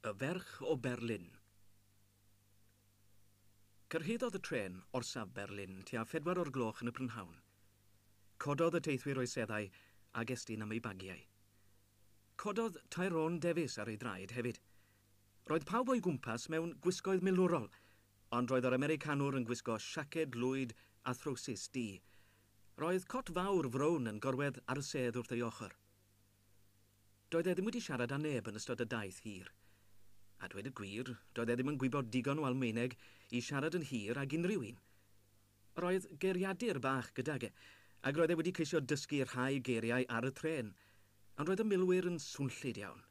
Y ferch o Berlin. Cyrhaeddodd y trên orsaf Berlin tua phedwar o'r gloch yn y prynhawn. Cododd y teithwyr o'u seddau ag estyn am eu bagiau. Cododd Tyrone Davies ar ei draed hefyd. Roedd pawb o'i gwmpas mewn gwisgoedd milwrol, ond roedd yr Americanwr yn gwisgo siaced lwyd a throwsus du. Roedd cot fawr frown yn gorwedd ar y sedd wrth ei ochr. Doedd e ddim wedi siarad â neb yn ystod y daith hir. A dweud y gwir, doedd e ddim yn gwybod digon o Almaeneg i siarad yn hir ag unrhyw un. Yr oedd geiriadur bach gydag e, ac roedd e wedi ceisio dysgu rhai geiriau ar y trên, ond roedd y milwyr yn swnllyd iawn.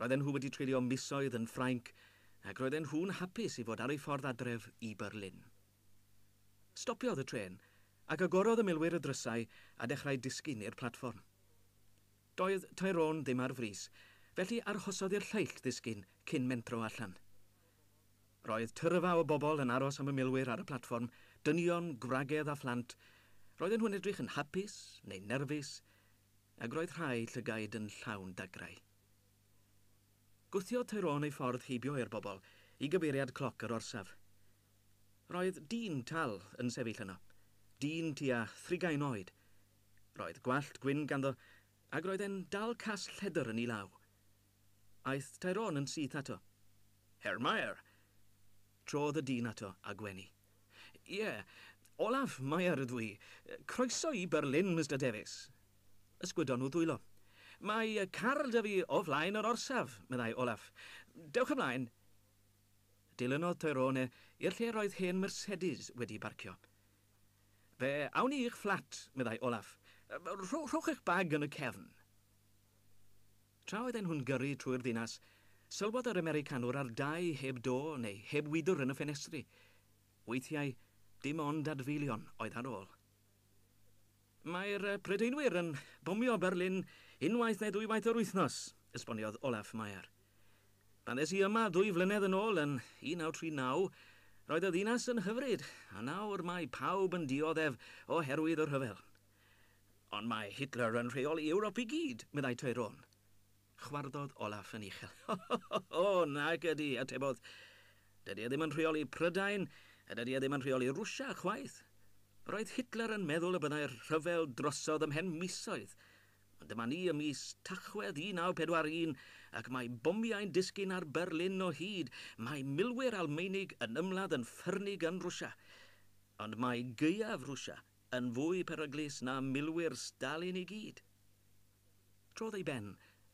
Roedden nhw wedi treulio misoedd yn Ffrainc, ac roedden nhw'n hapus i fod ar eu ffordd adref i Berlin. Stopiodd y trên, ac agorodd y milwyr y drysau a dechrau disgyn i'r platfform. Doedd Tyrone ddim ar frys, felly arhosodd i'r lleill ddisgyn cyn mentro allan. Roedd tyrfa o bobl yn aros am y milwyr ar y platfform, dynion, gwragedd a phlant, roedden nhw'n edrych yn hapus neu'n nerfus, ac roedd rhai llygaid yn llawn dagrau. Gwthiodd Tyrone ei ffordd heibio i'r bobl, i gyfeiriad cloc yr orsaf. Roedd dyn tal yn sefyll yno, dyn tua thrigain oed. Roedd gwallt gwyn ganddo, ac roedd e'n dal cas lledr yn ei law. Aeth Tyrone yn syth ato. Herr Mair! Trodd y dyn ato a gwenu. Ie, Olaf Mair ydw i. Croeso i Berlin, Mister Davies. Ysgwydon nhw ddwylo. Mae car 'da fi o flaen yr orsaf, meddai Olaf. Dewch ymlaen. Dilynodd Tyrone i'r lle roedd hen Mercedes wedi barcio. Fe awn ni i'ch fflat, meddai Olaf. Rhowch eich bag yn y cefn. Tra oedden nhw'n gyrru trwy'r ddinas, sylwodd yr Americanwr ar dai heb do neu heb wydr yn y ffenestri. Weithiau, dim ond adfeilion oedd ar ôl. Mae'r Prydeinwyr yn bomio Berlin unwaith neu ddwywaith yr wythnos, esboniodd Olaf Mayer. Pan ddes i yma ddwy flynedd yn ôl yn 1939, roedd y ddinas yn hyfryd, a nawr mae pawb yn dioddef oherwydd y rhyfel. Ond mae Hitler yn rheoli Ewrop i gyd, meddai Tyrone. Chwarddodd Olaf yn uchel. O, o, o, nag ydy, atebodd. Dydy e ddim yn rheoli Prydain, a dydy e ddim yn rheoli Rwsia, chwaith. Roedd Hitler yn meddwl y byddai'r rhyfel drosodd ymhen misoedd, ond dyma ni ym mis Tachwedd 1941 ac mae bomiau'n disgyn ar Berlin o hyd, mae milwyr Almaenig yn ymladd yn ffyrnig yn Rwsia. Ond mae gaeaf Rwsia yn fwy peryglus na milwyr Stalin i gyd. Trodd ei ben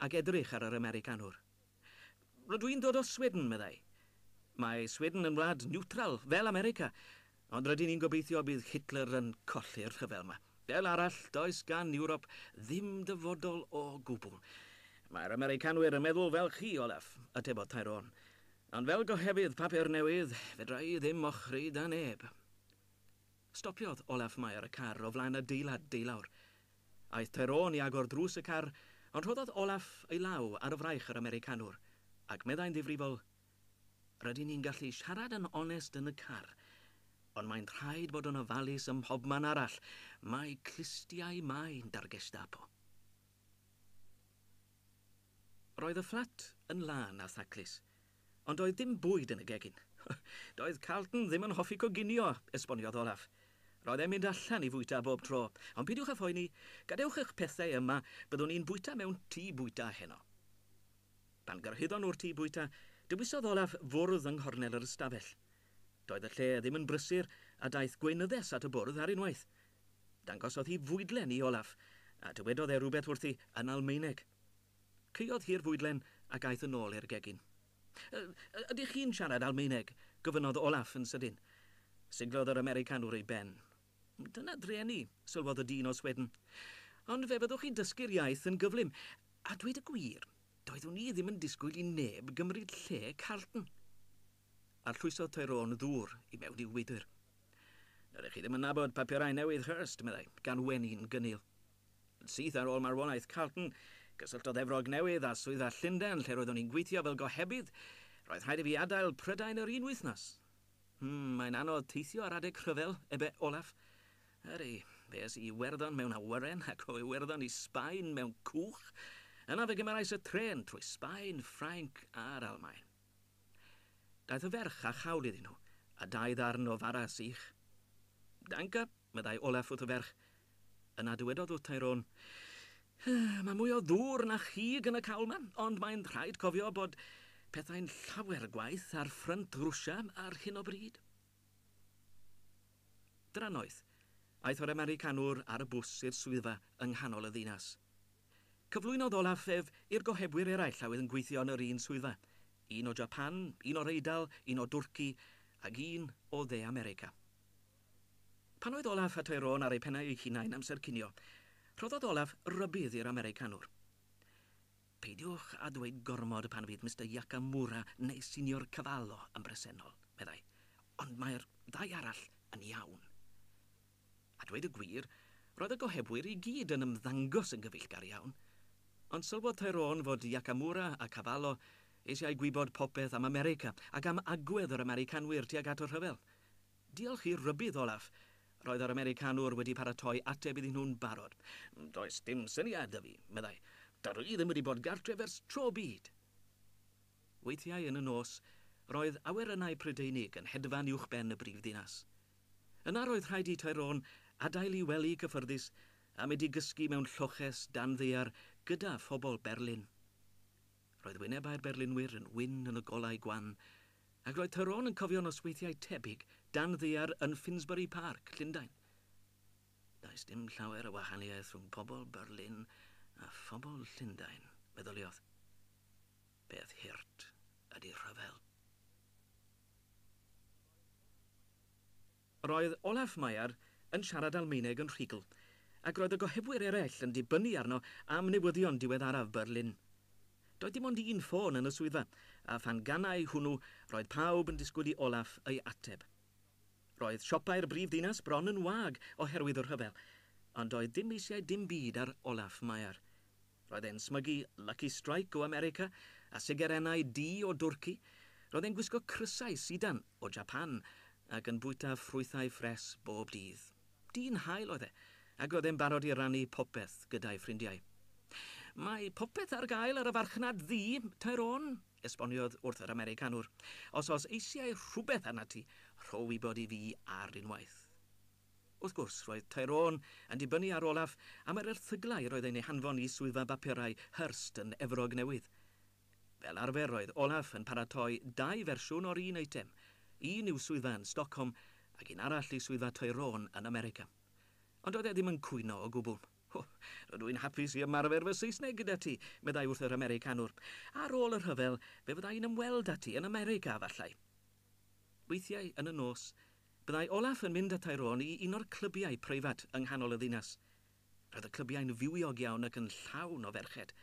ac edrych ar yr Americanwr. Rydw i'n dod o Sweden, meddai. Mae Sweden yn wlad niwtral, fel America, ond rydyn ni'n gobeithio bydd Hitler yn colli'r rhyfel 'ma. Fel arall, does gan Ewrop ddim dyfodol o gwbl. Mae'r Americanwyr yn meddwl fel chi, Olaf, atebodd Tyrone. Ond fel gohebydd papur newydd, fedra i ddim ochri 'da neb. Stopiodd Olaf Mayer y car o flaen adeilad deulawr. Aeth Tyrone i agor drws y car, ond rhoddodd Olaf ei law ar y fraich yr Americanwr, ac meddai'n ddifrifol, Rydyn ni'n gallu siarad yn onest yn y car, ond mae'n rhaid bod yn ofalus ym mhobman arall, mae clustiau main 'da'r Gestapo. Roedd y fflat yn lân a thaclus, Ond doedd dim bwyd yn y gegin. Doedd Carlton ddim yn hoffi coginio, esboniodd Olaf. Roedd e'n mynd allan i fwyta bob tro, ond peidiwch â phoeni, gadewch eich pethau yma, byddwn i'n bwyta mewn tŷ bwyta heno. Pan gyrhaeddon nhw'r tŷ bwyta, dewisodd Olaf fwrdd yng nghornel yr ystafell. Doedd y lle ddim yn brysur, a daeth gweinyddes at y bwrdd ar unwaith. Dangosodd hi fwydlen i Olaf, a dywedodd e rywbeth wrthi yn Almaeneg. Caeodd hi'r fwydlen ac aeth yn ôl i'r gegin. Y, y, ydych chi'n siarad Almaeneg? gofynnodd Olaf yn sydyn. Siglodd yr Americanwr ei ben. Dyna drueni, sylwodd y dyn o Sweden. Ond fe fyddwch chi'n dysgu'r iaith yn gyflym. A dweud y gwir, doeddwn i ddim yn disgwyl i neb gymryd lle Carlton. Arllwysodd Tyrone ddŵr i mewn i'w wydr. Dydych chi ddim yn nabod papurau newydd Hurst, meddai, gan wenu'n gynnil. Syth ar ôl marwolaeth Carlton, cysylltodd Efrog Newydd â swyddfa Llundain lle roeddwn i'n gweithio fel gohebydd. Roedd rhaid i fi adael Prydain yr un wythnos. Hmm, mae'n anodd teithio ar adeg rhyfel, ebe Olaf. Ydy, fe es i i Iwerddon mewn awyren ac o Iwerddon i Sbaen mewn cwch. Yna fe gymerais y trên trwy Sbaen, Ffrainc a'r Almaen. Daeth y ferch â chawl iddyn nhw, a dau ddarn o fara sych. Danka, meddai Olaf wrth y ferch. Yna dywedodd wrth Tyrone, Mae mwy o ddŵr na chig yn y cawl ma, ond mae'n rhaid cofio bod pethau'n llawer gwaeth ar ffrynt Rwsia ar hyn o bryd. Drannoeth, aeth yr Americanwr ar y bws i'r swyddfa yng nghanol y ddinas. Cyflwynodd Olaf ef i'r gohebwyr eraill a oedd yn gweithio yn yr un swyddfa, un o Japan, un o'r Eidal, un o Dwrci, ac un o Dde America. Pan oedd Olaf a Tyrone ar eu pennau eu hunain amser cinio, rhoddodd Olaf rybudd i'r Americanwr. Peidiwch â dweud gormod pan fydd Mister Yakamura neu Signor Cavallo yn bresennol, meddai, ond mae'r ddau arall yn iawn. A dweud y gwir, roedd y gohebwyr i gyd yn ymddangos yn gyfeillgar iawn. Ond sylwodd Tyrone fod Yakamura a Cavallo eisiau gwybod popeth am America ac am agwedd yr Americanwyr tuag at y rhyfel. Diolch i'r rhybudd olaf, roedd yr Americanwr wedi paratoi ateb iddyn nhw'n barod. Does dim syniad 'da fi, meddai. Dydw i ddim wedi bod gartref ers tro byd! Weithiau yn y nos, roedd awyrennau Prydeinig yn hedfan uwchben y brifddinas. Yna roedd rhaid i Tyrone adael i wely cyffyrddus a mynd i gysgu mewn lloches dan ddaear gyda phobl Berlin. Roedd wynebau'r berlynwyr yn wyn yn y golau gwan, ac roedd Tyrone yn cofio nosweithiau tebyg dan ddaear yn Finsbury Park, Llundain. Does dim llawer o wahaniaeth rhwng pobl Berlin a phobl Llundain, meddyliodd. Peth hurt ydy rhyfel. Roedd Olaf Meyer yn siarad Almaeneg yn rhugl, ac roedd y gohebwyr eraill yn dibynnu arno am newyddion diweddaraf Berlin. Doedd dim ond un ffôn yn y swyddfa, a phan ganai hwnnw, roedd pawb yn disgwyl i Olaf ei ateb. Roedd siopau'r brif ddinas bron yn wag oherwydd y rhyfel, ond doedd dim eisiau dim byd ar Olaf Meyer. Roedd e'n smygu Lucky Strike o America a sigarennau du o Dwrci, roedd e'n gwisgo crysau sidan o Japan ac yn bwyta ffrwythau ffres bob dydd. Dyn hael oedd e, ac roedd e'n barod i rannu popeth gyda'i ffrindiau. Mae popeth ar gael ar y farchnad ddu, Tyrone, esboniodd wrth yr Americanwr. Os oes eisiau rhywbeth arnat ti, rho wybod i fi ar unwaith. Wrth gwrs, roedd Tyrone yn dibynnu ar Olaf am yr erthyglau yr oedd yn eu hanfon i Swyddfa Bapurau Hearst yn Efrog Newydd. Fel arfer, roedd Olaf yn paratoi dau fersiwn o'r un eitem, un i'w swyddfa yn Stockholm ac un arall i swyddfa Tyrone yn America. Ond doedd e ddim yn cwyno o gwbl. O, rydw i'n hapus i ymarfer fy Saesneg gyda ti, meddai wrth yr Americanwr. Ar ôl y rhyfel, fe fydda i'n ymweld â ti yn America, efallai. Weithiau yn y nos, byddai Olaf yn mynd â Tyrone i un o'r clybiau preifat yng nghanol y ddinas. Roedd y clybiau'n fywiog iawn ac yn llawn o ferched.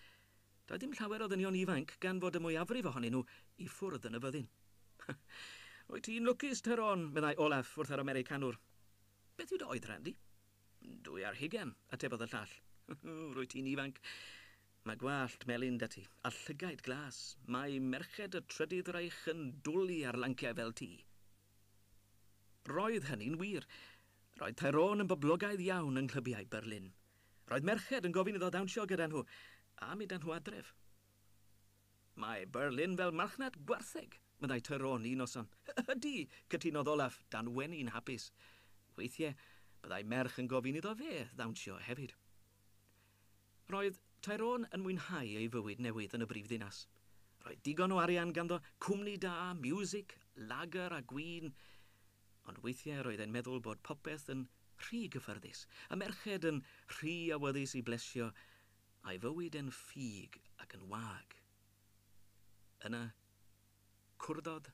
Doedd dim llawer o ddynion ifanc gan fod y mwyafrif ohonyn nhw i ffwrdd yn y fyddin. Wyt ti'n lwcus, Tyrone, meddai Olaf wrth yr Americanwr. Beth yw dy oedran di? Dwy ar hugain, atebodd y llall. Rwyt ti'n ifanc. Mae gwallt melyn 'da ti, a llygaid glas. Mae merched y trydydd Reich yn dwli ar lanciau fel ti. Roedd hynny'n wir. Roedd Tyrone yn boblogaidd iawn yng nghlybiau Berlin. Roedd merched yn gofyn iddo ddawnsio gyda nhw, a mynd â nhw adref. Mae Berlin fel marchnad gwartheg, meddai Tyrone un noson. Ydy, cytunodd Olaf, dan wenu yn hapus. Weithiau, byddai merch yn gofyn iddo fe ddawnsio hefyd. Roedd Tyrone yn mwynhau ei fywyd newydd yn y brifddinas. Roedd digon o arian ganddo, cwmni da, miwsig, lager a gwin. Ond weithiau roedd e'n meddwl bod popeth yn rhy gyffyrddus, y merched yn rhy awyddus i blesio, a'i fywyd yn ffug ac yn wag. Yna, Cwrddodd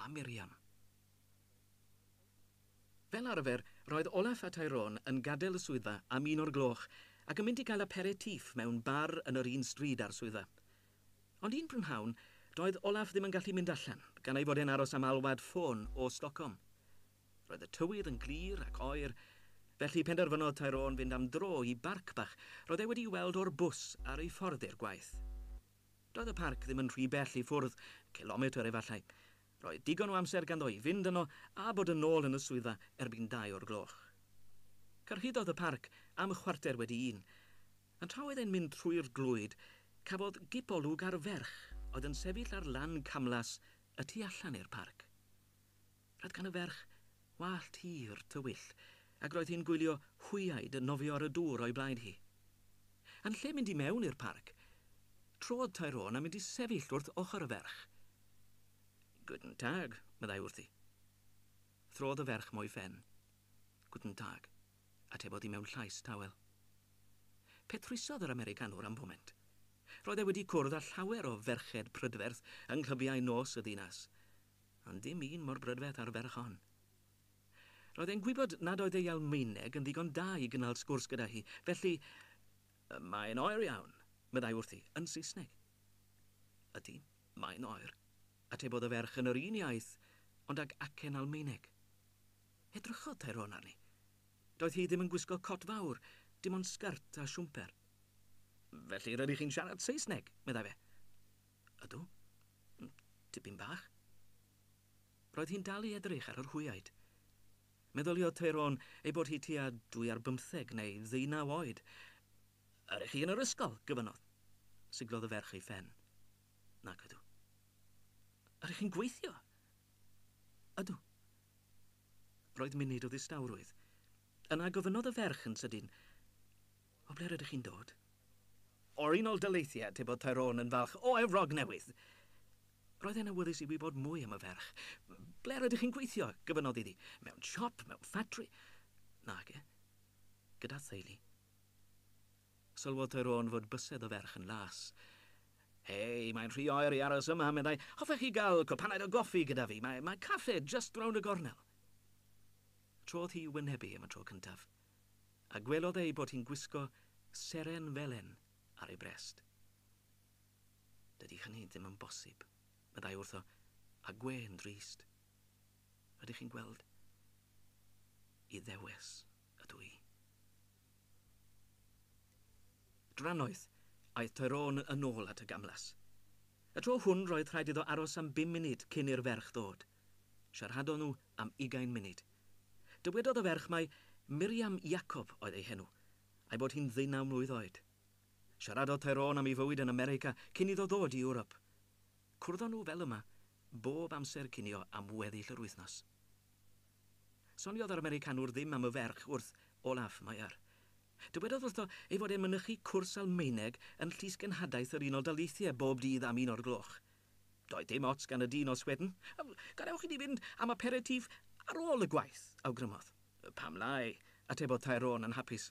â Miriam. Fel arfer, roedd Olaf a Tyrone yn gadael y swyddfa am un o'r gloch ac yn mynd i gael aperitif mewn bar yn yr un stryd â'r swyddfa. Ond un prynhawn, doedd Olaf ddim yn gallu mynd allan, gan ei fod e'n aros am alwad ffôn o Stockholm. Roedd y tywydd yn glir ac oer, felly penderfynodd Tyrone fynd am dro i barc bach roedd e wedi'i weld o'r bws ar ei ffordd i'r gwaith. Doedd y parc ddim yn rhy bell i ffwrdd, cilometr efallai. Roedd digon o amser ganddo i fynd yno a bod yn ôl yn y swyddfa erbyn dau o'r gloch. Cyrhaeddodd y parc am chwarter wedi un, a tra oedd e'n mynd trwy'r glwyd, cafodd gip olwg ar ferch oedd yn sefyll ar lan camlas y tu allan i'r parc. Roedd gan y ferch wallt hir, tywyll, ac roedd hi'n gwylio hwyaid yn nofio ar y dŵr o'i blaid hi. Yn lle mynd i mewn i'r parc, trodd Tyrone a mynd i sefyll wrth ochr y ferch. Guten Tag, meddai wrthi. Throdd y ferch mo'i phen. Guten Tag, atebodd hi mewn llais tawel. Petrwisodd yr Americanwr am foment. Roedd e wedi cwrdd â llawer o ferched prydferth yng nghlybiau nos y ddinas. Ond dim un mor brydferth â'r ferch hon. Roedd e'n gwybod nad oedd ei Almaeneg yn ddigon da i gynnal sgwrs gyda hi, felly, Mae'n oer iawn, meddai wrthi, yn Saesneg. Ydy, mae'n oer, atebodd y ferch yn yr un iaith, ond ag acen Almaeneg. Edrychodd Tyrone arni. Doedd hi ddim yn gwisgo cot fawr, dim ond sgert a siwmper. Felly rydych chi'n siarad Saesneg? meddai fe. Ydw. Tipyn bach. Roedd hi'n dal i edrych ar yr hwyaid. Meddyliodd Tyrone ei bod hi tua dwy ar bymtheg neu ddeunaw oed. Yr ych chi yn yr ysgol? gofynnodd. Siglodd y ferch ei phen. Nac ydw. Yr ych chi'n gweithio? Ydw. Roedd munud o ddistawrwydd. Yna gofynnodd y ferch yn sydyn, O ble rydych chi'n dod? O'r Unol Daleithiau, tybed Tyrone yn falch o Efrog Newydd! Roedd e'n awyddus i wybod mwy am y ferch. Ble rydych chi'n gweithio? gofynnodd iddi. Mewn siop? Mewn ffatri? Nage. Gyda theulu. Sylwodd Tyrone fod bysedd y ferch yn las. Hei, mae'n rhy oer i aros yma, meddai. Hoffech chi gael cwpanaid o goffi gyda fi? Mae, mae caffe jyst rownd y gornel. Trodd hi i wynebu am y tro cyntaf. a gwelodd ei bod hi'n gwisgo seren felen ar ei brest. Dydy hynny ddim yn bosib, meddai wrtho, a gwên drist. Rydych chi'n gweld, Iddewes ydw i. Drannoeth, aeth Tyrone yn ôl at y gamlas. Y tro hwn roedd rhaid iddo aros am bum munud cyn i'r ferch ddod. Siaradon nhw am ugain munud. Dywedodd y ferch mai Miriam Jacob oedd ei henw, a'i bod hi'n ddeunaw mlwydd oed. Siaradodd Tyrone am ei fywyd yn America cyn iddo ddod i Ewrop. Cwrddon nhw fel yma bob amser cinio am weddill yr wythnos. Soniodd yr Americanwr ddim am y ferch wrth Olaf Meyer. Dywedodd wrtho ei fod e'n mynychu cwrs Almaeneg yn Llysgenhadaeth yr Unol Daleithiau bob dydd am un o'r gloch. Doedd dim ots gan y dyn os wedyn, Gadewch i ni fynd am aperitif ar ôl y gwaith, awgrymodd. Pam lai? atebodd Tyrone yn hapus.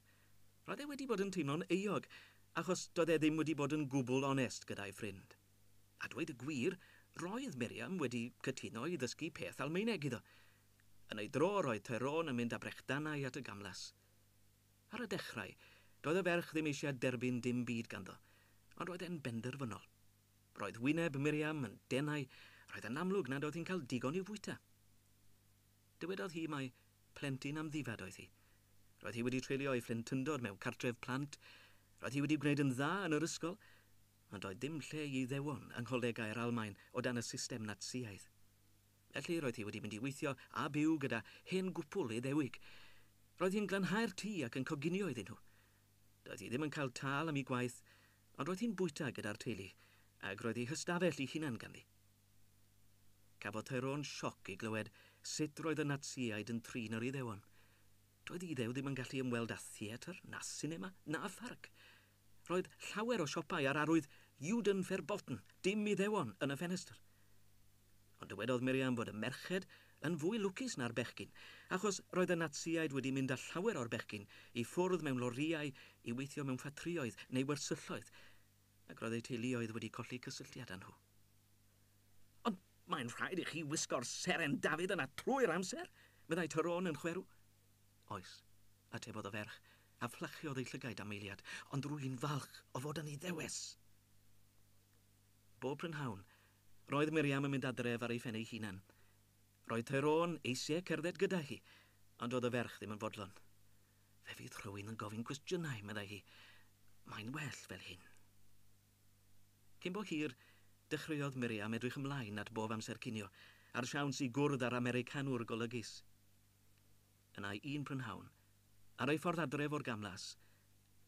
Roedd e wedi bod yn teimlo'n euog achos doedd e ddim wedi bod yn gwbl onest gyda'i ffrind. A dweud y gwir, roedd Miriam wedi cytuno i ddysgu peth Almaeneg iddo. Yn ei dro, roedd Tyrone yn mynd â brechdanau at y gamlas. Ar y dechrau, doedd y ferch ddim eisiau derbyn dim byd ganddo, ond roedd e'n benderfynol. Roedd wyneb Miriam yn denau, roedd yn amlwg nad oedd hi'n cael digon i'w fwyta. Dywedodd hi mai plentyn amddifad oedd hi. Roedd hi wedi treulio ei phlentyndod mewn cartref plant, roedd hi wedi gwneud yn dda yn yr ysgol, ond doedd dim lle i Iddewon yng ngholegau'r Almaen o dan y system Natsïaidd. Felly roedd hi wedi mynd i weithio a byw gyda hen gwpwl Iddewig. Roedd hi'n glanhau'r tŷ ac yn coginio iddyn nhw. Doedd hi ddim yn cael tâl am ei gwaith, ond roedd hi'n bwyta gyda'r teulu, ac roedd ei hystafell ei hunan ganddi. Cafodd Tyrone sioc i glywed sut roedd y Natsïaid yn trin yr Iddewon. Doedd y Iddew ddim yn gallu ymweld â theatr, na sinema, na pharc. Roedd llawer o siopau a'r arwydd Juden verboten, dim Iddewon, yn y ffenestr. Ond dywedodd Miriam fod y merched yn fwy lwcus na'r bechgyn, achos roedd y Natsïaid wedi mynd â llawer o'r bechgyn i ffwrdd mewn lorïau i weithio mewn ffatrïoedd neu wersylloedd, ac roedd eu teuluoedd wedi colli cysylltiad â nhw. Ond mae'n rhaid i chi wisgo'r seren David yna trwy'r amser? meddai Tyrone yn chwerw. Oes, atebodd y ferch, a fflachiodd ei llygaid am eiliad, ond rwy'n falch o fod yn Iddewes! Bob prynhawn, roedd Miriam yn mynd adref ar ei phen ei hunan. Roedd Tyrone eisiau cerdded gyda hi, ond doedd y ferch ddim yn fodlon. Fe fydd rhywun yn gofyn cwestiynau, meddai hi. Mae'n well fel hyn. Cyn bo hir, dechreuodd Miriam edrych ymlaen at bob amser cinio, a'r siawns i gwrdd â'r Americanwr golygus. yn ei un prynhawn, ar ei ffordd adref o'r gamlas,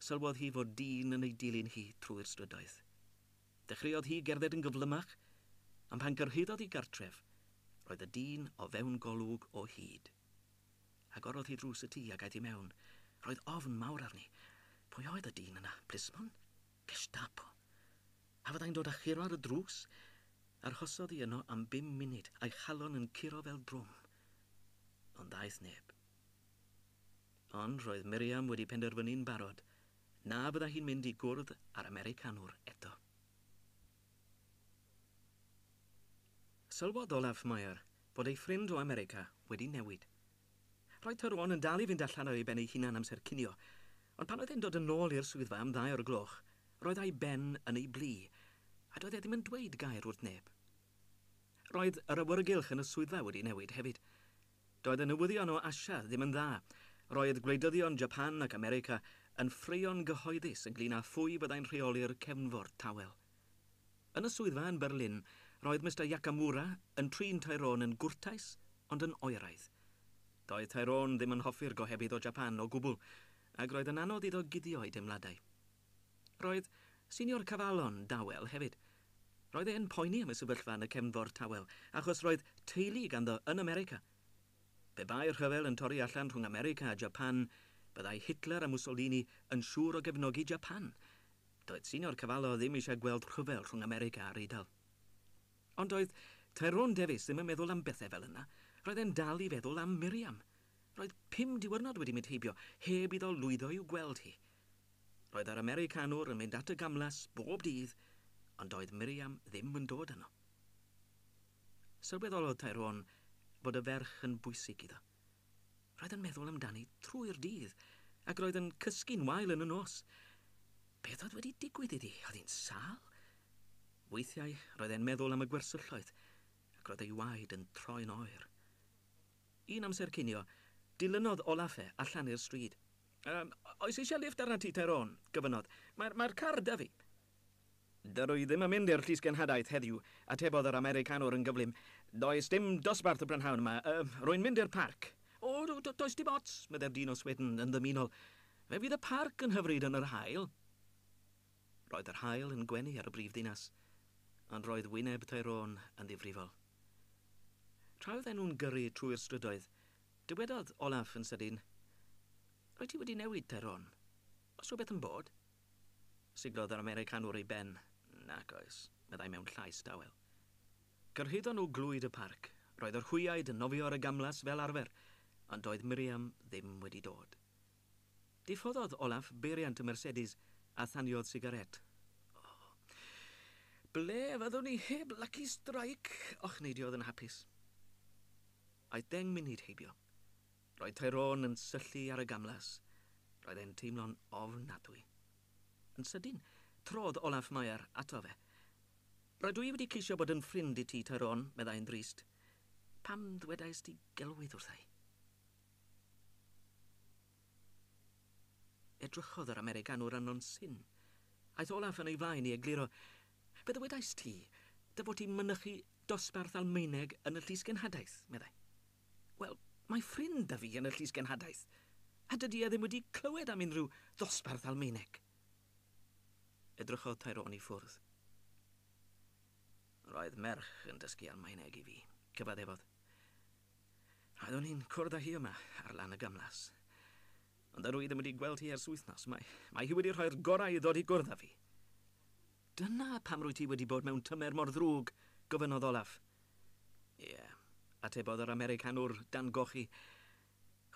sylwodd hi fod dyn yn ei dilyn hi trwy'r strydoedd. Dechreuodd hi gerdded yn gyflymach, ond pan gyrhaeddodd hi gartref, roedd y dyn o fewn golwg o hyd. Agorodd hi drws y tŷ ac aeth i mewn. Roedd ofn mawr arni. Pwy oedd y dyn yna? Plismon? Gestapo? A fyddai'n dod a churo ar y drws? Arhosodd hi yno am bum munud, a'i chalon yn curo fel drwm. Ond ddaeth neb. Ond roedd Miriam wedi penderfynu'n barod na fydda hi'n mynd i gwrdd â'r Americanwr eto. Sylwodd Olaf Meyer fod ei ffrind o America wedi newid. Roedd Tyrone yn dal i fynd allan ar ei ben ei hunan amser cinio, ond pan oedd e'n dod yn ôl i'r swyddfa am ddau o'r gloch, roedd a'i ben yn ei blu, a doedd e ddim yn dweud gair wrth neb. Roedd yr awyrgylch yn y swyddfa wedi newid hefyd. Doedd y newyddion o Asia ddim yn dda. Roedd gwleidyddion Japan ac America yn ffraeo'n gyhoeddus ynglŷn â phwy fyddai'n rheoli'r cefnfor tawel. Yn y swyddfa yn Berlin, roedd Mister Yakamura yn trin Tyrone yn gwrtais ond yn oeraidd. Doedd Tyrone ddim yn hoffi'r gohebydd o Japan o gwbl, ac roedd yn anodd iddo guddio'i deimladau. Roedd Senior Cavallo'n dawel hefyd. Roedd e'n poeni am y sefyllfa yn y Cefnfor Tawel achos roedd teulu ganddo yn America. Pe bai'r rhyfel yn torri allan rhwng America a Japan, byddai Hitler a Mussolini yn siŵr o gefnogi Japan. Doedd Senior Cavallo ddim eisiau gweld rhyfel rhwng America a'r Eidal. Ond doedd Tyrone Davies ddim yn meddwl am bethau fel yna. Roedd e'n dal i feddwl am Miriam. Roedd pum diwrnod wedi mynd heibio heb iddo lwyddo i'w gweld hi. Roedd yr Americanwr yn mynd at y gamlas bob dydd, ond doedd Miriam ddim yn dod yno. Sylweddolodd Tyrone bod y ferch yn bwysig iddo. Roedd yn meddwl amdani trwy'r dydd, ac roedd yn cysgu'n wael yn y nos. Beth oedd wedi digwydd iddi? Oedd hi'n sâl? Weithiau roedd e'n meddwl am y gwersylloedd, ac roedd ei waed yn troi'n oer. Un amser cinio, dilynodd Olaf e allan i'r stryd. Yym, oes eisiau lifft ar Ati Tyrone? gofynnodd. Mae'r, mae'r car 'da fi. Dydw i ddim yn mynd i'r llysgenhadaeth heddiw, atebodd yr Americanwr yn gyflym. Does dim dosbarth y prynhawn 'ma. Yym, rwy'n mynd i'r parc. O, do, do, does dim ots, meddai'r dyn o Sweden yn ddymunol. Fe fydd y parc yn hyfryd yn yr haul. Roedd yr haul yn gwenu ar y brif ddinas, ond roedd wyneb Tyrone yn ddifrifol. Tra oedden nhw'n gyrru trwy'r strydoedd, Dywedodd Olaf yn sydyn, Rwyt ti wedi newid, Tyrone. Oes rhywbeth yn bod? Siglodd yr Americanwr ei ben. Nac oes, meddai mewn llais dawel. Cyrhaeddon nhw glwyd y parc. Roedd yr hwyaid yn nofio ar y gamlas fel arfer, ond doedd Miriam ddim wedi dod. Diffoddodd Olaf beiriant y Mercedes a thaniodd sigaret. O, ble fyddwn ni heb Lucky Strike? ochneidiodd yn hapus. Aeth deng munud heibio. Roedd Tyrone yn syllu ar y gamlas. Roedd e'n teimlo'n ofnadwy. Yn sydyn, trodd Olaf Mair ato fe. Rydw i wedi ceisio bod yn ffrind i ti, Tyrone, meddai'n ddrist. Pam ddwedaist ti gelwydd wrtha i? Edrychodd yr Americanwr arno'n syn. Aeth Olaf yn ei flaen i egluro, Fe ddywedais ti dy fod ti'n mynychu dosbarth Almaeneg yn y Llys Genhadaeth, meddai. Wel, mae ffrind 'da fi yn y Llys Genhadaeth, a dydy e ddim wedi clywed am unrhyw ddosbarth Almaeneg. Edrychodd Tyrone i ffwrdd. Roedd merch yn dysgu Almaeneg i fi, cyfaddefodd. Roeddwn i'n cwrdd â hi yma ar lan y gamlas. Ond dydw i ddim wedi gweld hi ers wythnos. Mae, mae hi wedi rhoi'r gorau i ddod i gwrdd â fi. Dyna pam rwyt ti wedi bod mewn tymer mor ddrwg? gofynnodd Olaf. Ie, atebodd yr Americanwr dan gochi.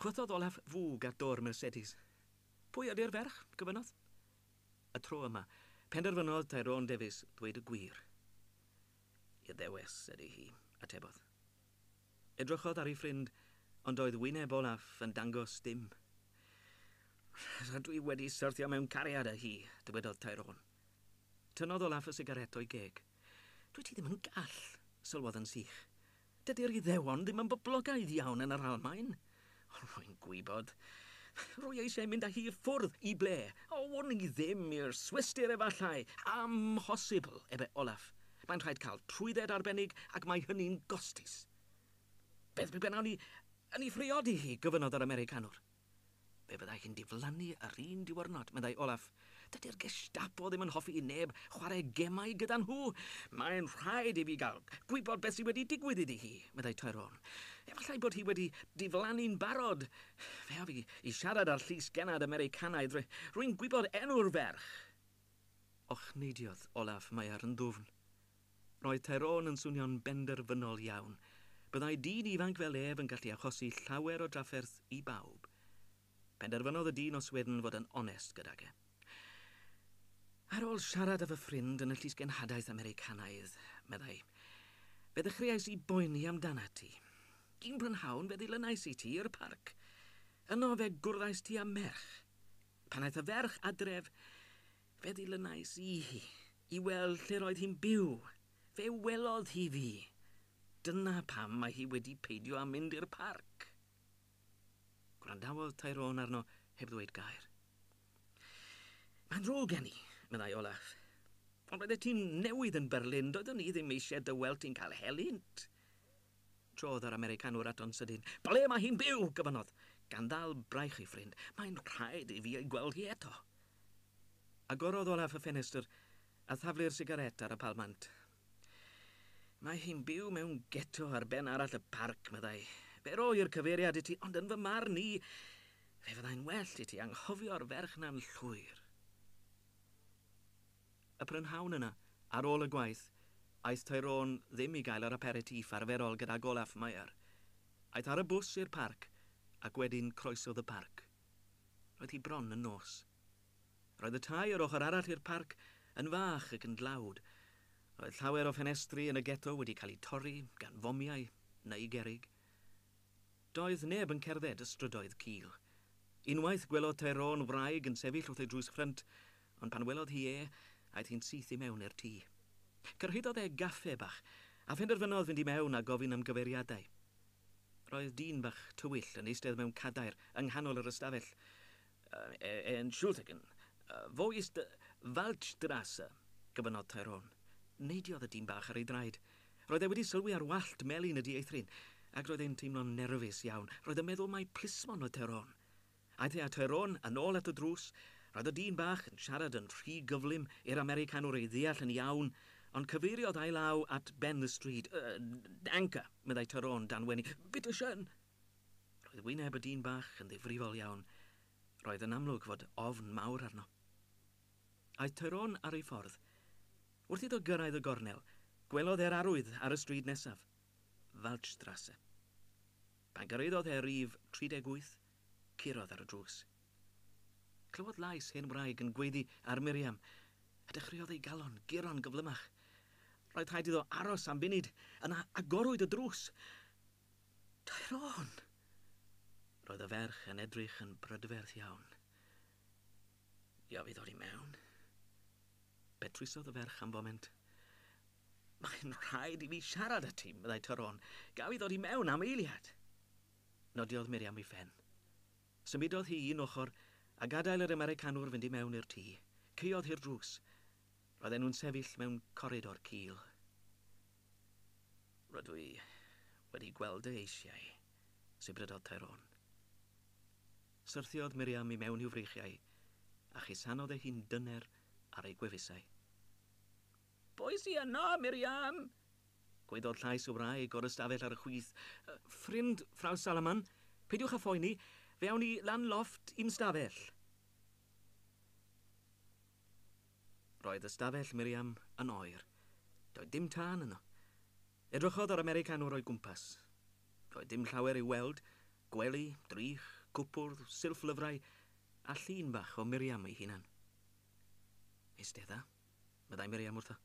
Chwythodd Olaf fwg at dôr Mercedes. Pwy ydy'r ferch? gofynnodd. Y tro yma, penderfynodd Tyrone Davies ddweud y gwir. Iddewes ydy hi, atebodd. Edrychodd ar ei ffrind, ond doedd wyneb Olaf yn dangos dim. Rydw i wedi syrthio mewn cariad â hi, dywedodd Tyrone. Tynnodd Olaf y sigaret o'i geg. Dwyt ti ddim yn gall, sylwodd yn sych. Dydy'r Iddewon ddim yn boblogaidd iawn yn yr Almaen. Rwy'n gwybod. Rwy eisiau mynd â hi i ffwrdd, i ble? O, wn i ddim, i'r Swistir efallai. Amhosibl, ebe Olaf. Mae'n rhaid cael trwydded arbennig ac mae hynny'n gostus. Beth pe wnawn ni yn ei phriodi hi, gofynnodd yr Americanwr. Fe fyddai hi'n diflannu yr un diwrnod, meddai Olaf. Dydy'r Gestapo ddim yn hoffi i neb chwarae gemau gyda nhw. Mae'n rhaid i fi gael gwybod beth sydd wedi digwydd iddi hi, meddai Tyrone. Efallai bod hi wedi diflannu'n barod. Fe af i i siarad â'r Llys Gennad Americanaidd, ry, rwy'n gwybod enw'r ferch! Ochneidiodd Olaf Mayer yn ddwfn. Roedd Tyrone yn swnio'n benderfynol iawn. Byddai dyn ifanc fel ef yn gallu achosi llawer o drafferth i bawb. Penderfynodd y dyn o Sweden fod yn onest gydag e. Ar ôl siarad â fy ffrind yn y Llysgenhadaeth Americanaidd, meddai, fe ddechreuais i boeni amdanat ti. Un prynhawn fe ddilynais i ti i'r parc. Yno fe gwrddais ti â merch. Pan aeth y ferch adref, fe ddilynais i hi i weld lle'r oedd hi'n byw. Fe welodd hi fi. Dyna pam mae hi wedi peidio â mynd i'r parc. Gwrandawodd Tyrone arno heb ddweud gair. Mae'n ddrwg gen i, meddai Olaf. Ond roeddet ti'n newydd yn Berlin, doeddwn i ddim eisiau dy weld ti'n cael helynt. Trodd yr Americanwr ato'n sydyn. Ble mae hi'n byw? gofynnodd, gan ddal braich ei ffrind. Mae'n rhaid i fi ei gweld hi eto. Agorodd Olaf y ffenestr a thaflu'r sigaret ar y palmant. Mae hi'n byw mewn geto ar ben arall y parc, meddai. Fe roi'r cyfeiriad i ti, ond yn fy marn i, fe fyddai'n well i ti anghofio'r ferch na'n llwyr. Y prynhawn yna, ar ôl y gwaith, aeth Tyrone ddim i gael yr aperitif arferol gydag Olaf Meyer. Aeth ar y bws i'r parc, ac wedyn croesodd y parc. Roedd hi bron yn nos. Roedd y tai yr ochr arall i'r parc yn fach ac yn dlawd. Roedd llawer o ffenestri yn y geto wedi cael eu torri gan fomiau neu gerrig. Doedd neb yn cerdded y strydoedd cul. Unwaith gwelodd Tyrone wraig yn sefyll wrth ei drws ffrynt, ond pan welodd hi e, aeth hi'n syth i mewn i'r tŷ. Cyrhaeddodd e gaffe bach, a phenderfynodd fynd i mewn a gofyn am gyfeiriadau. Roedd dyn bach tywyll yn eistedd mewn cadair yng nghanol yr ystafell. Entschuldigen, wo ist die Waldstrasse? gofynnodd Tyrone. Neidiodd y dyn bach ar ei draed. Roedd e wedi sylwi ar wallt melyn y dieithryn, ac roedd e'n teimlo'n nerfus iawn. Roedd yn meddwl mai plismon oedd Tyrone. Aeth e â Tyrone yn ôl at y drws. Roedd y dyn bach yn siarad yn rhy gyflym i'r Americanwr ei ddeall yn iawn, ond cyfeiriodd ei law at Ben the Street. Yy, danke, meddai Tyrone dan wenu. Bitte schön! Roedd wyneb y dyn bach yn ddifrifol iawn. Roedd yn amlwg fod ofn mawr arno. Aeth Tyrone ar ei ffordd. Wrth iddo gyrraedd y gornel, gwelodd e'r arwydd ar y stryd nesaf, Waldstrasse. Pan gyrhaeddodd e rif 38, curodd ar y drws. Clywodd lais hen wraig yn gweiddi ar Miriam, a dechreuodd ei galon guro'n gyflymach. Roedd rhaid iddo aros am funud, yna agorwyd y drws. Tyrone! Roedd y ferch yn edrych yn brydferth iawn. Gaf i ddod i mewn? Petrusodd y ferch am foment. Mae'n rhaid i fi siarad â ti, meddai Tyrone. Gaf i ddod i mewn am eiliad? Nodiodd Miriam i Fen. Symudodd hi un ochr a gadael yr Americanwr fynd i mewn i'r tŷ. Caeodd hi'r drws. Roedden nhw'n sefyll mewn coridor cul. Rydw i wedi gweld e eisiau, sibrydodd Tyrone. Syrthiodd Miriam i mewn i'w freichiau a chusanodd ei hun dyner ar ei gwefusau. Pwy sy yno, Miriam? gwaeddodd llais y wraig o'r ystafell ar y chwith. Ffrind, Frawd Salaman. Peidiwch â phoeni, fe awn ni lan lofft i'n stafell. Roedd ystafell Miriam yn oer. Doedd dim tân yno. Edrychodd yr Americanwr o'i gwmpas. Doedd dim llawer i'w weld, gwely, drych, cwpwrdd, silff lyfrau, a llun bach o Miriam ei hunan. Eistedd dda, meddai Miriam wrtho.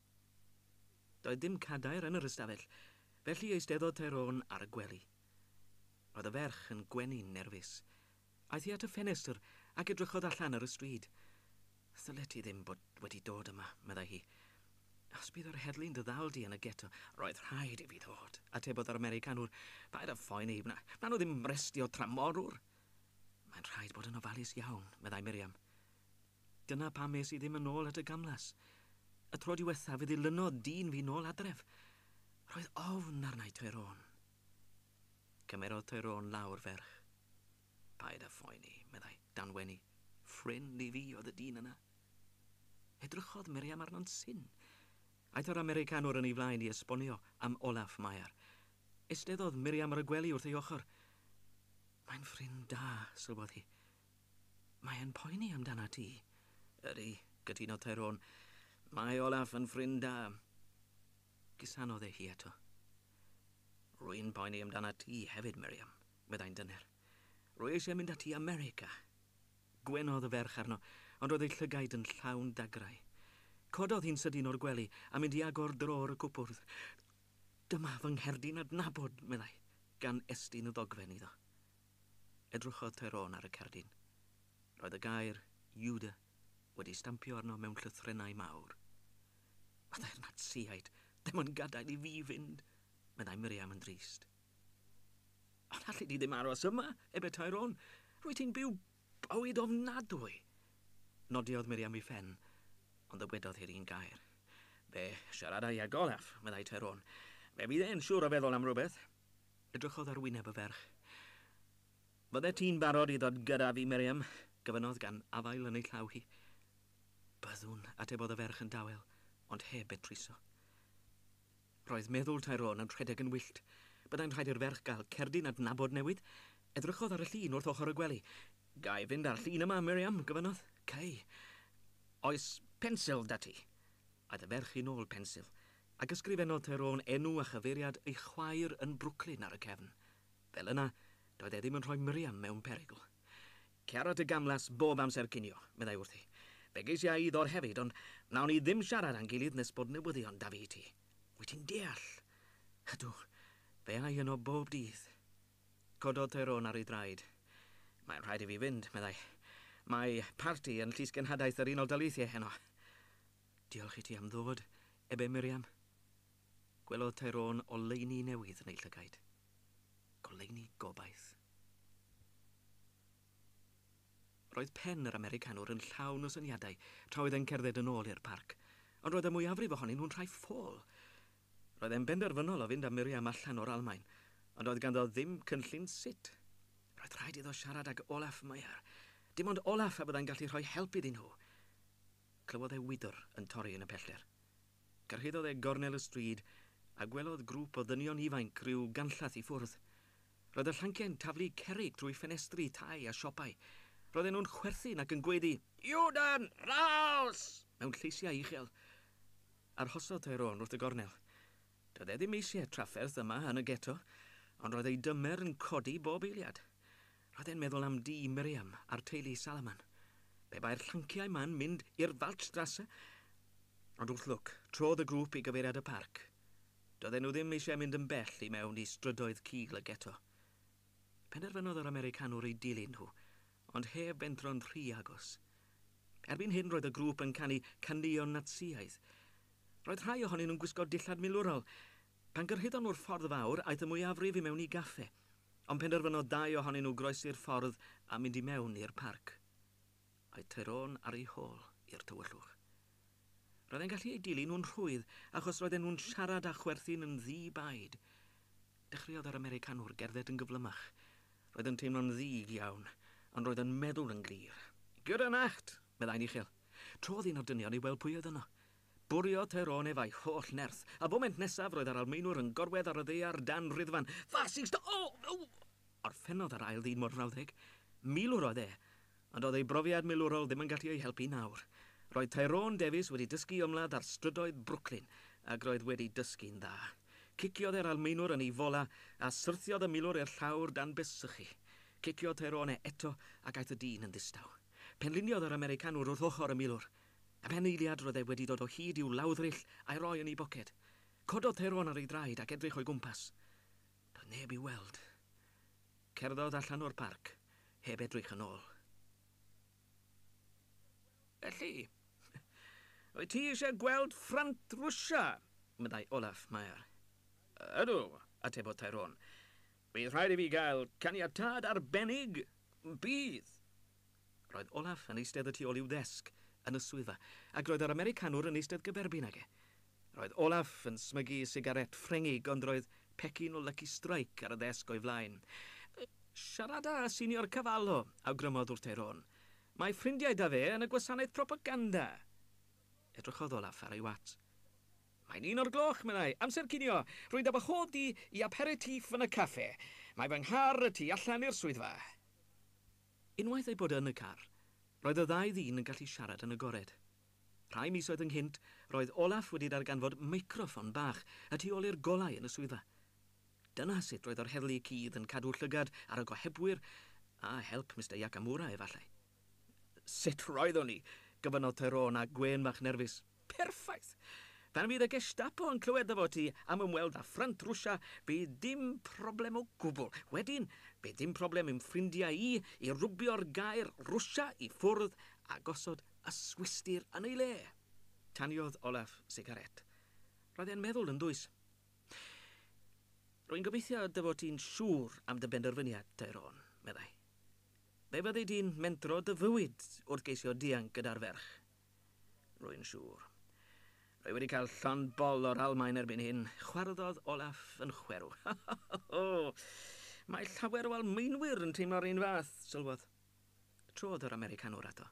Doedd dim cadair yn yr ystafell, felly eisteddodd Tyrone ar y gwely. Roedd y ferch yn gwenu'n nerfus. Aeth hi at y ffenestr ac edrychodd allan ar y stryd. Ddylet ti ddim bod wedi dod yma, meddai hi. Os bydd yr heddlu'n dy ddal di yn y geto, roedd rhaid i fi ddod, atebodd yr Americanwr. Paid â phoeni, wna, wnawn nhw ddim arestio tramorwr. Mae'n rhaid bod yn ofalus iawn, meddai Miriam. Dyna pam es i ddim yn ôl at y gamlas. Y tro diwethaf fe ddilynodd dyn fi nôl adref. Roedd ofn arna i, Tyrone. Cymerodd Tyrone lawr ferch. Paid â phoeni, meddai, dan wenu. Ffrind i fi oedd y dyn yna. Edrychodd Miriam arno'n syn. Aeth yr Americanwr yn ei flaen i esbonio am Olaf Mayer. Eisteddodd Miriam ar y gwely wrth ei ochr. Mae'n ffrind da, sylwodd hi. Mae e'n poeni amdanat ti. Ydi, cytunodd Tyrone. Mae Olaf yn ffrind da. Cusanodd e hi eto. Rwy'n poeni amdanat ti hefyd, Miriam, meddai'n dyner. Rwy eisiau mynd ati i America. Gwenodd y ferch arno, ond roedd ei llygaid yn llawn dagrau. Cododd hi'n sydyn o'r gwely a mynd i agor drôr y cwpwrdd. Dyma fy ngherdyn adnabod, meddai, gan estyn y ddogfen iddo. Edrychodd Tyrone ar y cerdyn. Roedd y gair Judah wedi stampio arno mewn llythrennau mawr. Fyddai'r Natsïaid ddim yn gadael i fi fynd, meddai Miriam yn drist. Ond alli di ddim aros yma, ebe Tyrone. Rwyt ti'n byw bywyd ofnadwy. Nodiodd Miriam i Fen, ond ddywedodd hi'r un gair. Be, siaradai ag Olaf, meddai Tyrone. Fe fydd e'n siŵr o feddwl am rywbeth. Edrychodd ar wyneb y ferch. Fyddet ti'n barod i ddod gyda fi, Miriam? gofynnodd gan afael yn ei llaw hi. Byddwn, atebodd y ferch yn dawel, ond heb betruso. Roedd meddwl Tyrone yn rhedeg yn wyllt. Byddai'n rhaid i'r ferch gael cerdyn adnabod newydd. Edrychodd ar y llun wrth ochr y gwely. Ga i fynd â'r llun yma, Miriam? gofynnodd. Cei. Oes pensil 'da ti? Aeth y ferch yn ôl pensil, ac ysgrifennodd Tyrone enw a chyfeiriad ei chwaer yn Brooklyn ar y cefn. Fel yna, doedd e ddim yn rhoi Miriam mewn perygl. Cera dy gamlas bob amser cinio, meddai wrthi. Fe geisiau i ddod hefyd, ond wnawn ni ddim siarad â'n gilydd nes bod newyddion 'da fi i ti. Wyt ti'n deall? Ydw. Fe ai yno bob dydd. Cododd Tyrone ar ei draed. Mae'n rhaid i fi fynd, meddai. Mae parti yn Llysgenhadaeth yr Unol Daleithiau heno. Diolch i ti am ddod, ebe Miriam? Gwelodd Tyrone oleuni newydd yn ei llygaid. Goleuni gobaith. Roedd pen yr Americanwr yn llawn o syniadau tra oedd e'n cerdded yn ôl i'r parc, ond roedd y mwyafrif ohonyn nhw'n rhai ffôl. Roedd e'n benderfynol o fynd â Miriam allan o'r Almaen, ond doedd ganddo ddim cynllun sut. Roedd rhaid iddo siarad ag Olaf Meyer. Dim ond Olaf a fyddai'n gallu rhoi help iddyn nhw. Clywodd e wydr yn torri yn y pellter. Cyrhaeddodd e gornel y stryd a gwelodd grŵp o ddynion ifainc ryw ganllath i ffwrdd. Roedd y llanciau'n taflu cerrig trwy ffenestri tai a siopau. Roedden nhw'n chwerthin ac yn gwaedu 'Judan! Raus! mewn lleisiau uchel. Arhosodd Tyrone wrth y gornel. Doedd e ddim eisiau trafferth yma yn y Ghetto, ond roedd ei dymer yn codi bob eiliad. Roedd e'n meddwl am dŷ Miriam a'r teulu Salaman. Pe bai'r llanciau 'ma'n mynd i'r Waldstrasse! Ond wrth lwc, trodd y grŵp i gyfeiriad y parc. Doedden nhw ddim eisiau mynd yn bell i mewn i strydoedd cul y geto. Penderfynodd yr Americanwr eu dilyn nhw, ond heb bentro'n rhy agos. Erbyn hyn roedd y grŵp yn canu caneuon Natsïaidd. Roedd rhai ohonyn nhw'n gwisgo dillad milwrol, Pan gyrhaeddon nhw'r ffordd fawr, aeth y mwyafrif i mewn i gaffe, ond penderfynodd dau ohonyn nhw groesi'r ffordd a mynd i mewn i'r parc. Aeth Tyrone ar ei hôl i'r tywyllwch. Roedd e'n gallu eu dilyn nhw'n rhwydd achos roedden nhw'n siarad a chwerthin yn ddi-baid. Dechreuodd yr Americanwr gerdded yn gyflymach. Roedd yn teimlo'n ddig iawn, ond roedd yn meddwl yn glir. Gute Nacht! meddai'n uchel. Trodd un o'r dynion i weld pwy oedd yno. Bwriodd Tyrone ef a'i holl nerth. Y foment nesaf, roedd yr Almaenwr yn gorwedd ar y ddaear dan ruddfan. Fascist! O! O! Orffennodd yr Ail Fyd Mor Frawddeg. Milwr oedd e. Ond doedd ei brofiad milwrol ddim yn gallu ei helpu nawr. Roedd Tyrone Davies wedi dysgu ymladd ar strydoedd Brooklyn, ac roedd wedi dysgu'n dda. Ciciodd e'r Almaenwr yn ei fola, a syrthiodd y milwr i'r llawr dan bys sychu. Ciciodd Tyrone eto, ac aeth y dyn yn ddistaw. Penliniodd yr Americanwr wrth ochr y milwr. Am hen eiliad roedd e wedi dod o hyd i'w lawddryll a'i roi yn ei boced. Cododd Tyrone ar ei draed ac edrych o'i gwmpas. Doedd neb i'w weld. Cerddodd allan o'r parc, heb edrych yn ôl. Felly, wyt ti eisiau gweld ffrynt Rwsia? meddai Olaf Mayer. Ydw, atebodd Tyrone. Bydd rhaid i fi gael caniatâd arbennig, bydd! Roedd Olaf yn eistedd y tu ôl i'w ddesg yn y swyddfa, ac roedd yr Americanwr yn eistedd gyferbyn ag e. Roedd Olaf yn smygu sigarét Ffrengig, ond roedd pecyn o Lucky Strike ar y ddesg o'i flaen. Siarada â Senior Cavallo, awgrymodd wrtei Ron. Mae ffrindiau 'da fe yn y gwasanaeth propaganda! Edrychodd Olaf ar ei watsh. Mae'n un o'r gloch, meddai. Amser cinio! Rwy'n dal bob dydd i aperitif yn y caffe. Mae fy nghar y tu allan i'r swyddfa. Unwaith eu bod yn y car, roedd y ddau ddyn yn gallu siarad yn agored. Rhai misoedd ynghynt, roedd Olaf wedi darganfod meicroffon bach y tu ôl i'r golau yn y swyddfa. Dyna sut roedd yr heddlu cudd yn cadw llygad ar y gohebwyr, â help Mister Yakamura efallai. Sut roeddwn i? gofynnodd Tyrone â gwên fach nerfus. Perffaith! Pan fydd y Gestapo yn clywed dy fod ti am ymweld â ffrynt Rwsia, bydd dim problem o gwbl. Wedyn, bydd dim problem i'm ffrindiau i i rwbio'r gair Rwsia i ffwrdd a gosod y Swistir yn ei le. Taniodd Olaf sigarét. Roedd e'n meddwl yn ddwys. Rwy'n gobeithio dy fod ti'n siŵr am dy benderfyniad, Tyrone, meddai. Fe fyddi di'n mentro dy fywyd wrth geisio dianc gyda'r ferch. Rwy'n siŵr. Rwy wedi cael llond bol o'r Almaen erbyn hyn, chwarddodd Olaf yn chwerw. O! Mae llawer o Almaenwyr yn teimlo'r un fath, sylwodd. Trodd yr Americanwr ato.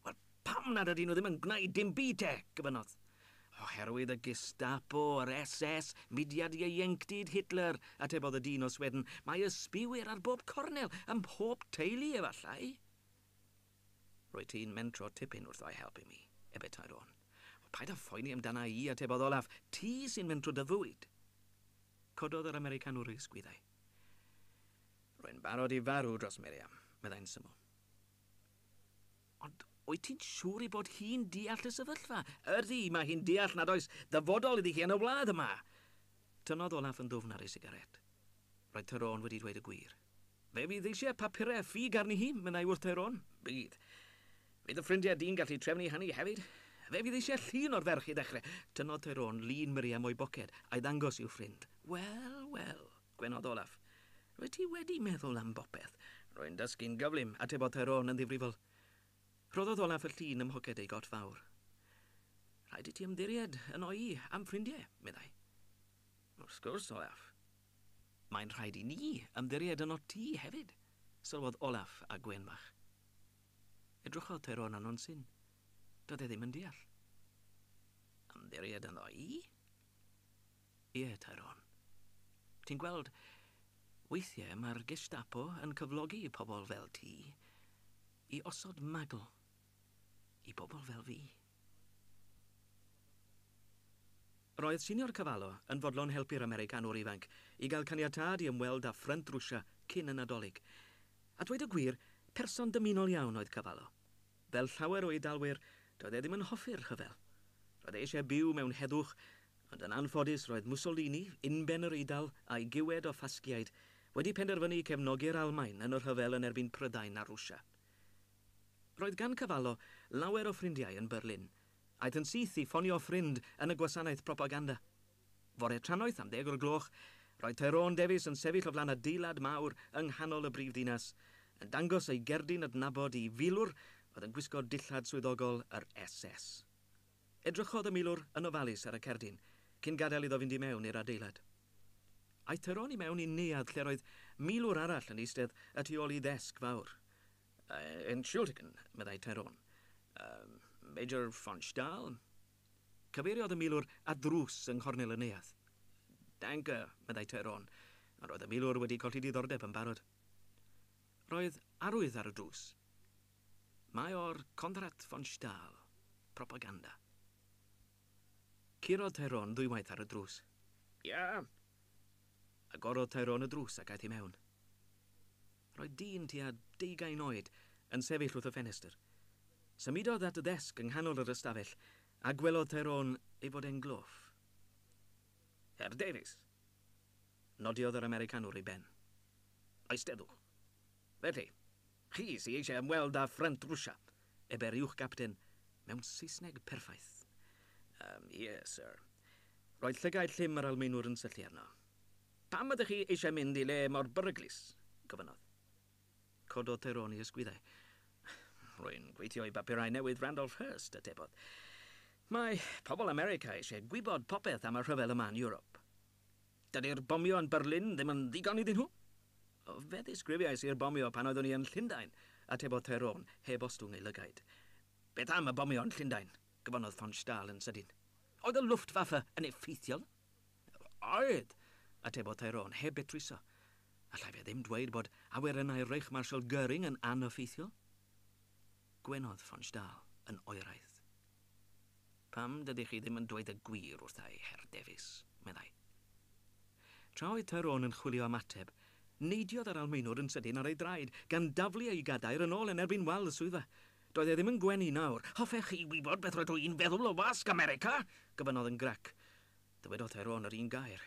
Wel, pam nad ydyn nhw ddim yn gwneud dim byd te? gofynnodd. Oherwydd y Gestapo, yr SS, mudiad ieuenctid Hitler, atebodd y dyn o Sweden. Mae ysbïwyr ar bob cornel, ym mhob teulu efallai. Rwyt ti'n mentro tipyn wrtho i helpu mi, ebetai Ron. O, paid â phoeni amdana i, atebodd Olaf. Ti sy'n mentro dy fwyd. Cododd yr Americanwr ei ysgwyddau. Rwy'n barod i farw dros Miriam, meddai'n syml. Ond wyt ti'n siŵr ei bod hi'n deall y sefyllfa? Ydy, mae hi'n deall nad oes dyfodol iddi hi yn y wlad yma. Tynnodd Olaf yn ddwfn ar ei sigaret. Roedd Tyrone wedi dweud y gwir. Fe fydd eisiau papurau ffug arni hi, meddai wrth Tyrone. Bydd. Fydd dy ffrindiau di'n gallu trefnu hynny hefyd? Fe fydd eisiau llun o'r ferch i ddechrau. Tynnodd Tyrone lun Miriam o'i boced, a'i ddangos i'w ffrind. Wel, wel. Gwenodd Olaf. Rwyt ti wedi meddwl am bopeth. Rwy'n dysgu'n gyflym, atebodd Tyrone yn ddifrifol. Rhoddodd Olaf y llun ym mhoced ei got fawr. Rhaid i ti ymddiried yno i am ffrindiau, meddai. Wrth gwrs, Olaf. Mae'n rhaid i ni ymddiried yno ti hefyd, sylwodd Olaf a gwên bach. Edrychodd Tyrone arno'n syn. Doedd e ddim yn deall. Ymddiried yno i? Ie, Tyrone. Ti'n gweld, weithiau mae'r Gestapo yn cyflogi pobl fel ti i osod magl i bobl fel fi. Roedd Senior Cavallo yn fodlon helpu'r Americanwr ifanc i gael caniatâd i ymweld â ffrynt Rwsia cyn y Nadolig. A dweud y gwir, person dymunol iawn oedd Cavallo. Fel llawer o Eidalwyr, doedd e ddim yn hoffi'r rhyfel. Roedd e eisiau byw mewn heddwch, ond yn anffodus roedd Mussolini, unben yr Eidal, a'i giwed o Ffasgiaid, wedi penderfynu cefnogi'r Almaen yn y rhyfel yn erbyn Prydain a Rwsia. Roedd gan Cavallo lawer o ffrindiau yn Berlin. Aeth yn syth i ffonio ffrind yn y gwasanaeth propaganda. Fore Tranoeth am ddeg o'r gloch, roedd Tyrone Davies yn sefyll o flaen adeilad mawr yng nghanol y brif ddinas, yn dangos ei gerdyn adnabod i filwr oedd yn gwisgo dillad swyddogol yr SS. Edrychodd y milwr yn ofalus ar y cerdyn cyn gadael iddo fynd i mewn i'r adeilad. Aeth Tyrone i mewn i neuadd lle'r oedd milwr arall yn eistedd y tu ôl i ddesg fawr. Ein Schuldigen, meddai Tyrone. Yy, Major von Stahl? Cyfeiriodd y milwr at ddrws yng nghornel y neuadd. Danke, meddai Tyrone, ond roedd y milwr wedi colli diddordeb yn barod. Roedd arwydd ar y drws. Mae o'r Konrad von Stahl, propaganda. Curodd Tyrone ddwywaith ar y drws. Ia! Agorodd Tyrone y drws ac aeth i mewn. Roedd dyn tua deugain oed yn sefyll wrth y ffenestr. Symudodd at y ddesg yng nghanol yr ystafell a gwelodd Tyrone ei fod e'n gloff. Herr Davies! nodiodd yr Americanwr ei ben. Eisteddwch. Felly, Chi sy eisiau ymweld â Ffrynt Rwsia, eberiwch Gapten mewn Saesneg perffaith. Yym, ie, syr. Roedd llygaid llym yr Almaenwr yn syllu arno. Pam ydych chi eisiau mynd i le mor beryglus? gofynnodd. Cododd Tyrone ei ysgwyddau. Rwy'n gweithio i bapurau newydd Randolph Hearst, atebodd. Mae pobl America eisiau gwybod popeth am y rhyfel yma yn Ewrop. Dydi'r bomio yn Berlin ddim yn ddigon iddyn nhw? Fe ddisgrifiais i'r bomio pan oeddwn i yn Llundain, atebodd Tyrone, heb ostwng ei lygaid. Beth am y bomio yn Llundain? gofynnodd von Stahl yn sydyn. Oedd y Luftwaffe yn effeithiol? Oedd, atebodd Tyrone, heb betruso. Allai fe ddim dweud bod awyrennau Reichmarschall Goering yn aneffeithiol? Gwenodd von Stahl yn oeraidd. Pam dydych chi ddim yn dweud y gwir wrtha i, Herr Davies? meddai. Tra oedd Tyrone yn chwilio am ateb, neidiodd yr Almaenwr yn sydyn ar ei draed, gan daflu ei gadair yn ôl yn erbyn wal y swyddfa. Doedd e ddim yn gwenu nawr. Hoffech chi wybod beth rydw i'n feddwl o Wasg America? gofynnodd yn grac. Dywedodd Tyrone yr un gair.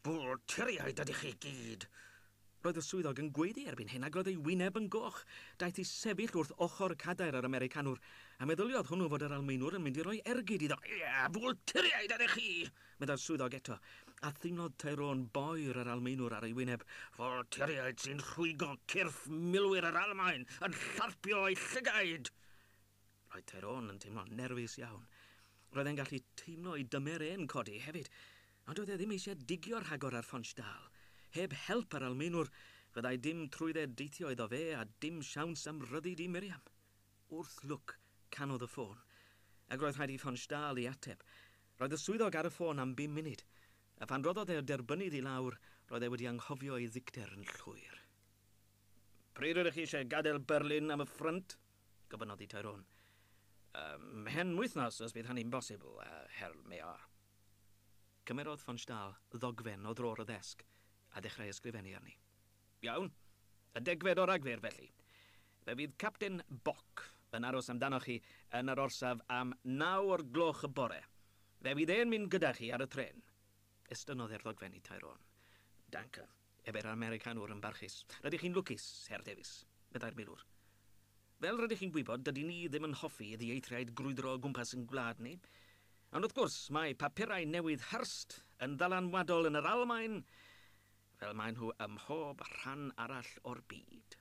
Bwlturiaid ydych chi gyd! Roedd y swyddog yn gweiddi erbyn hyn ac roedd ei wyneb yn goch. Daeth i sefyll wrth ochr cadair yr Americanwr, a meddyliodd hwnnw fod yr Almaenwr yn mynd i roi ergyd iddo. Ia, bwlturiaid ydych chi! meddai'r swyddog eto, a theimlodd Tyrone boer yr Almaenwr ar ei wyneb. Bwlturiaid sy'n rhwygo cyrff milwyr yr Almaen yn llarpio eu llygaid! Roedd Tyrone yn teimlo'n nerfus iawn. Roedd e'n gallu teimlo ei dymer e'n codi hefyd, ond doedd e ddim eisiau digio rhagor ar Fonch Dal. Heb help yr Almaenwr, fyddai dim trwydde deithio iddo fe a dim siawns am ryddid i Miriam. Wrth lwc, canodd y ffôn, ac roedd rhaid i Fonch Dal i ateb. Roedd y swyddog ar y ffôn am bum munud, a phan roddodd e'r derbynnydd i lawr, roedd e wedi anghofio ei ddicter yn llwyr. Pryd ydych chi eisiau gadael Berlin am y ffrynt? Gofynnodd y Taerôn. Ym mhen wythnos os bydd hynny'n bosibl, Herr Mayor. Cymerodd von Stahl ddogfen o drôr y ddesg a dechrau ysgrifennu arni. Iawn. Y degfed o Ragfyr, felly. Fe fydd Capten Bock yn aros amdanoch chi yn yr orsaf am naw o'r gloch y bore. Fe fydd e'n mynd gyda chi ar y trên. Estynnodd e'r ddogfen i Taerôn. Danke. Ef yw'r Americanwr yn barchus. Rydych chi'n lwcus, Herr Davies, meddai'r milwr. Fel rydych chi'n gwybod, dydyn ni ddim yn hoffi i ddieithriaid grwydro o gwmpas ein gwlad ni. Ond wrth gwrs, mae papurau newydd Hearst yn ddylanwadol yn yr Almaen, fel maen nhw ym mhob rhan arall o'r byd.